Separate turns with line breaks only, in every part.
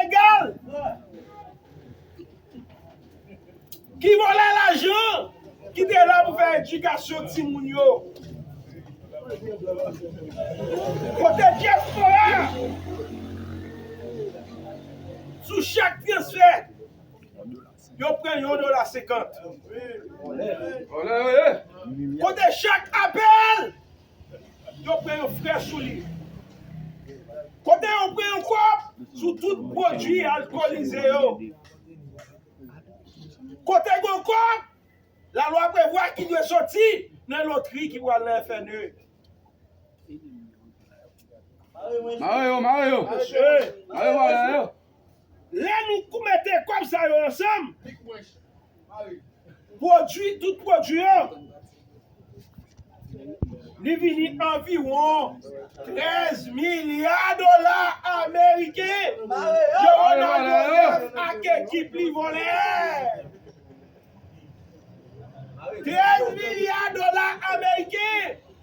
Ilegal! Ki vòlè lajan ki te la pou fè edikasyon timoun yo. Kote dyaspora a? Sou chak transfè, yo pran yon dola senkant. Kote chak apèl Yo pran yon frè sou li. Kote yo pran yon kòb sou tout pwodui alkolize yo. Kote gen yon kòb lalwa prevwa ki dwe soti nan lotri ki pral nan FNE.
Mare yo, mare yo. Mare vòlè yo.
Lè nou mete kòb sa yo ansanm, pwodui tout pwodui yo, li vini anviwon 13 milya dola ameriken ke Ronald Joseph ak ekip li vòlè. 13 milya dola ameriken!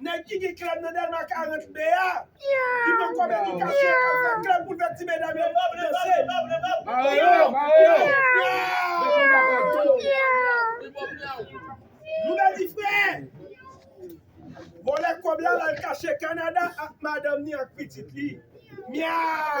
Nèg ki gen klèb nan Dèlma 40 B a, ki pran kòb edikasyon yo kal fè klèb pou l fè ti medam yo danse. Mare yo, mare yo! Lè konba fè tou! Nouvèl di frè! Vòlè kòb la lal kache Kanada ak madanm ni ak pitit li. Myaw!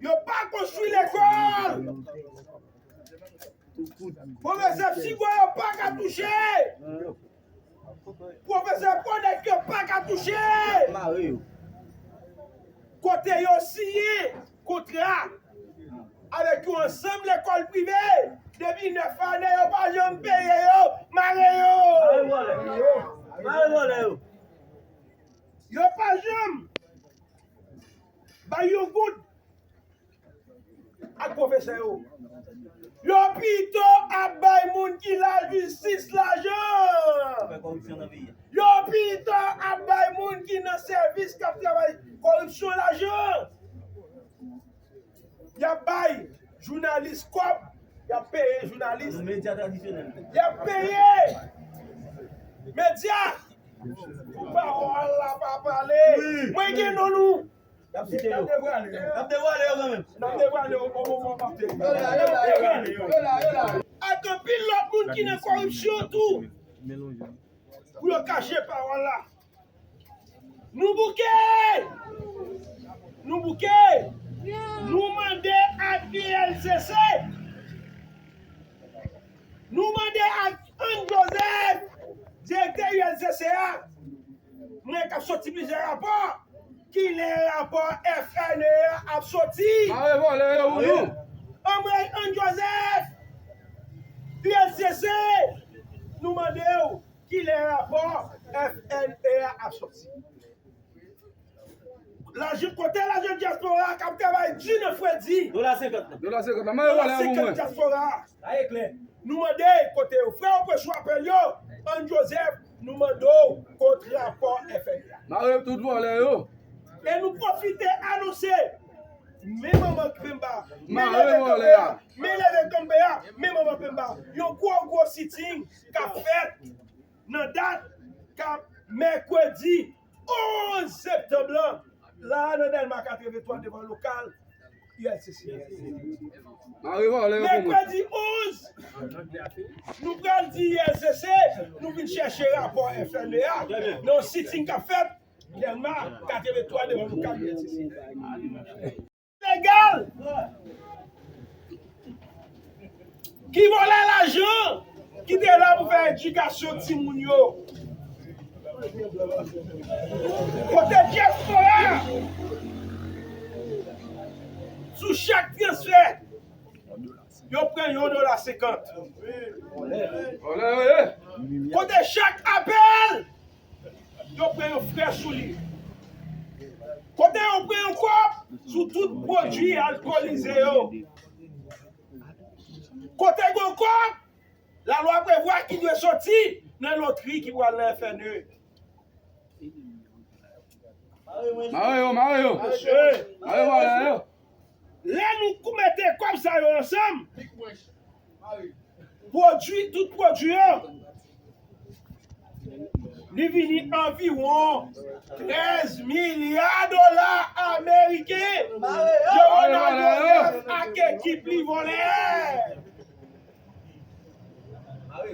Yo pa konstwi lekòl. Pwofesè psiko yo pa ka touche. Pwofesè konek yo pa ka touche. Kote yo siye kontra avèk yon ansanm lekòl prive depi 9 ane yo pa janm peye yo, mare yo. Yo pa janm Bay yon goud ak pwofesè yo. Yo pito ap bay moun ki lajistis lajan. Yo pito ap bay moun ki nan sèvis k ap travay koripsyon lajan. Yap bay jounalis kob yap peye jounalis yap peye media pou pawol la pa pale mwen gen non nou nap devwale yo nap devwale yo bon moman wap devwale ak anpil lot moun ki nan koripsyon tou pou yo kache pawol la. Nou bouke! Nou bouke! Nou mande ak ULCC! Nou mande ak Anne Joseph, direktè ULCC a! Mwen kap soti plizyè rapò! Ki lè rapò FNE a ap soti? Mare vòlè yo pou nou! Anmwey Anne Joseph! ULCC! Nou mande ou! Kilè rapò FNE a ap sòti? Lajan kote lajan dyaspora a kap travay di nan fredi? Dola 50 lan. Dola 50 lan. Mande dola 50 dyaspora a. La e klè. Nou mande kote yo. Frè yo pran sou apèl yo. Ann Joseph nou mande w kot rapò FNE a. Mare tout vòlè yo. E nou pwofite anonse men manman penba, men leve kanpe a, men manman penba, yon gwo gwo siting k ap fèt nan dat mèkredi 11 septanm lan la a nan Dèlma 83 devan lokal ulcc. Mèkredi 11, nou pral di ulcc nou vin chèche rapò FME a nan yon sitting k ap fèt Dèlma 83 devan lokal ulcc. Legal! Ki vòlè lajan ki te la pou fè edikasyon timoun yo? Kote dyaspora a? Sou chak transfè, yo pran yon dola senkant. Kote chak apèl? Yo pran yon frè sou li. Kote yo pran yon kòb sou tout pwodui alkolize yo. Kote gen yon kòb, lalwa prevwa ki dwe soti nan lotri ki pral nan FNE.
Mare yo, mare yo. Mesye. Mare yo, mare yo.
Lè nou k mete kòb sa yo ansanm, pwodui tout pwodui yo, li vini anviwon 13 milya dola ameriken ke Ronaldo Nèf ak ekip li vòlè.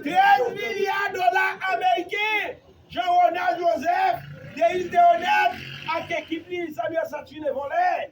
13 milya dola ameriken Jean Ronald Joseph, Denis Deroneth ak ekip li Samuel Saturnin vòlè.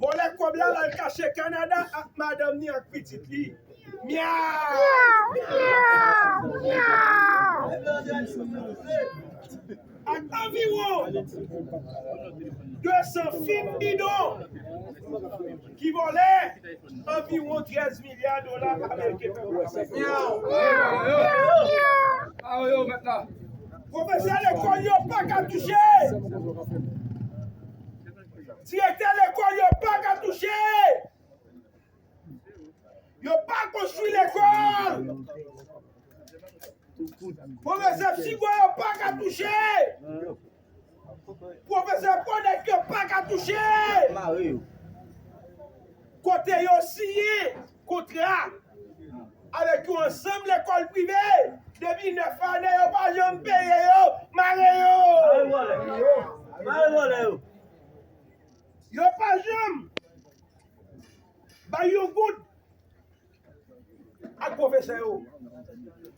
Vòlè kòb la lal kache Canada ak madanm ni ak pitit li. Ak anviwon 200 fim bidon ki vòlè anviwon 13 milya dola ameriken pèp la bay. Pwofesè lekòl yo paka touche. Direktè lekòl yo pa ka touche! Yo pa konstwi lekòl! Pwofesè psiko yo pa ka touche! Pwofesè fonèt yo pa ka touche! Kote yo siye! Kontra avèk yon ansanm lekòl prive depi 9 ane yo pa janm peye yo mare yo. Yo pa janm bay yon goud ak pwofesè yo.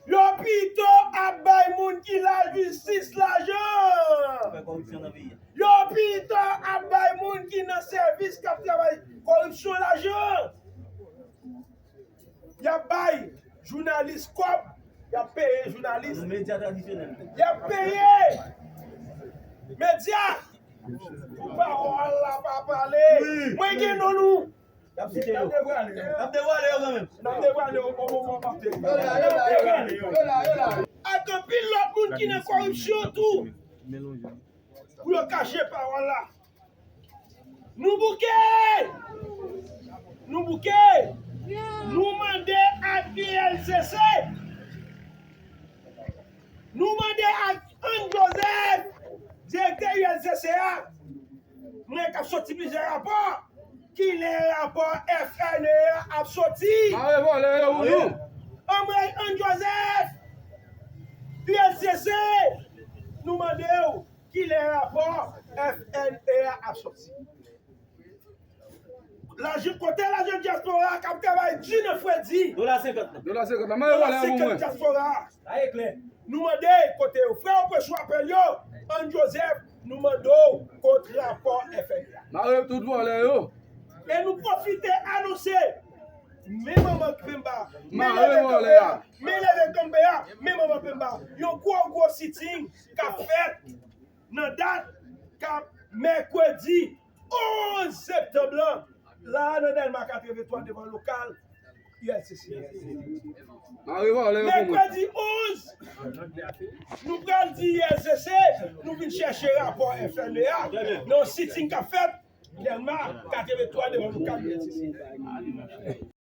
Yo pito ap bay moun ki lajistis lajan. Yo pito ap bay moun ki nan sèvis kap travay koripsyon lajan. Yap bay jounalis kòb, yap peye jounalis. Yap peye medya pou pawòl la pa pale. Mwen gen non nou. Nap devwale yo kanmenm. Nap devwale yo bon moman pap tele. Ak anpil lòt moun ki nan koripsyon tou. Pou yo kache pawòl la. Nou bouke! Nou bouke! Nou mande ak ULCC, nou mande ak Anne Joseph, direktè ULCC a, mwen kap soti plizyè rapò. Kilè rapò FNE a ap soti? Mare vòlè yo pou nou. Anmweyy Ann Joseph! Ulcc! Nou mande w kilè rapò FNE a ap soti? Lajan, kote lajan dyaspora a k ap travay di nan fredi? Dola senkant lan. Dola senkant lan. Mare vòlè yo pou mwen. Dola senkant dyaspora a. Sa e klè. Nou mande kote yo? Frè yo pran chwapèl yo, Ann Joseph! Nou mande w kot rapò FMI a? Mare tout vòlè yo. E nou pwofite anonse. Men manman penba, men leve kanpe a, men leve kanpe a, men manman penba. Yon gwo gwo sitting kap fèt nan dat kap mèkredi. 11 septanb lan la a nan Dèlma 83 devan lokal ULCC.
Mèkredi 11, nou pral di ULCC nou vin chèche rapò FME a nan yon sitting k ap fèt Dèlma 83 devan lokal ULCC.